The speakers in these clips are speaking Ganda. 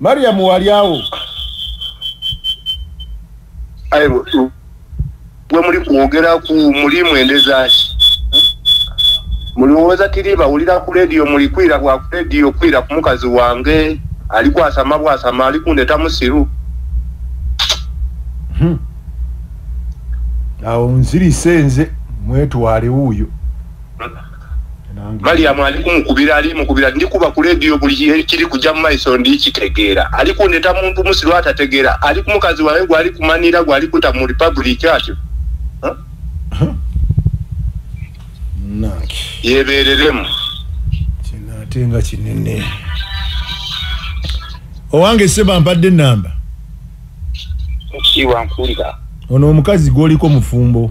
mariam walyawo gwe muli kwogera ku mulimu endezaki mulowooza tiri bawulira ku lediyo muli kwira bwa ku lediyo kwira ku mukazi wange ali kwasama bwasama ali kundeta musiru hmm. awo nzirise nze mwetwale wuuyo maliyamu ali kumukubira ali mukubira ndikuba ku lediyo buli kiri kujja mu maiso ndi kitegeera ali kundeta muntu musiru atategeera ali ku mukazi wawe gwali kumanira gwali kuta mu republic atyo yebereremu kinate nga kinene owange seba mpadde enamba onomukazi gwoliko mufumbo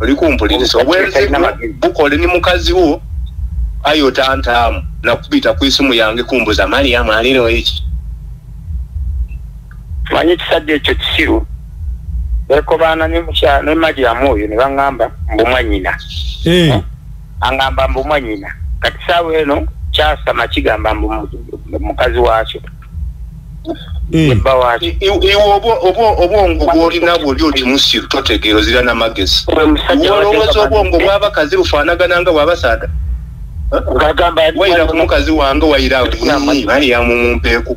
oli kumpuliriza obwenzibu bukole ni mukazi wo ayi otantaamu nakubita ku isimu yange kumbuza mariamu alino eki manyi ekisajja ekyo kisiru nekobaana ne mariamu oyo ne baŋŋamba mbumwanyina hey. Eh. angamba mbu mwanyina kati saawa eno kyasama kigamba mbu mukazi waakyo eh. ebba waakyo obwongo bwolina bwoli oti musiru totegeera ozira namagezi olowooza obwongo bwabakazi bufaanagana nga bwabasaada wayira ku mukazi wange wayira alinyi bali yamumumpeeku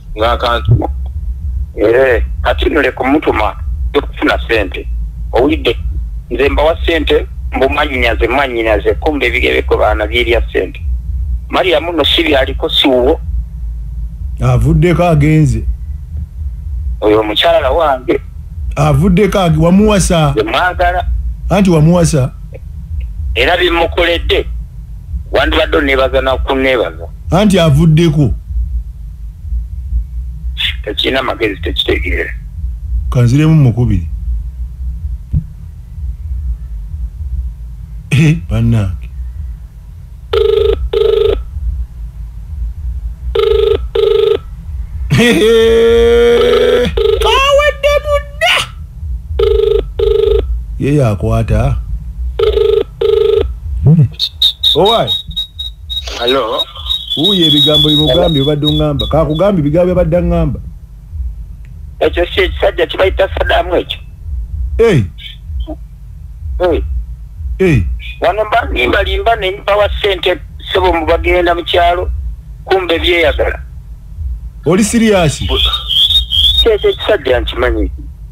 ng'akantu eh, kati no leka omutuma okufuna sente owulidde nze mbawa sente mbumanyinaze mwanyinaze kumba ebigebeko baana byerya sente mariyamu no si byaliko siwuwo avuddeko agenze oyo omukyala wange avuddeko wamuwasa mwagala anti wamuwasa era bimukoledde wandibadde onebaza nakunebaza anti avuddeko tekirina magezi tekitegeera kanziremu mukubiri eh, banange kawedde mudda ye yakwata hmm. owai Hello. Uye bigambo bimugambi obadde ngamba. Ka kugambi bigambo obadde ngamba. Ekyo si ekisajja kibayita Saddam ekyo. Eh. Eh. Eh. Wano mba nimba limba ne mpawa sente sebo mubagenda mu kyalo kumbe byeyagala. Oli serious? Kyekyo ekisajja nkimanyi.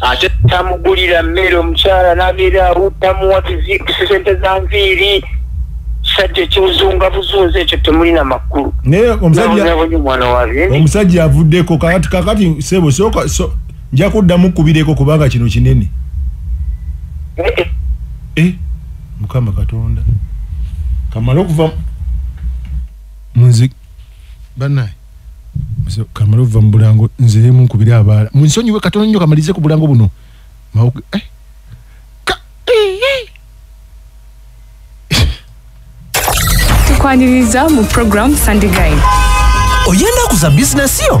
ate tamugulira mmere omukyala nabeera awuddamuwa tizikisi sente za nviiri sajja ekiwuzunga buzunza ekyo temulina makulu naye omusajja avuddeko kakati kakati sebo soka so nja kuddamu kubireko kubanga kino kinene eh, eh. eh mukama katonda kamala okuva munzi banaye kamala ova mu bulango nziremu nkubire abaala munsonyiwe katono nnyo kamalize ku bulango buno eh? tukwaniriza mu program sandigai oyenda kuza bizinesi yo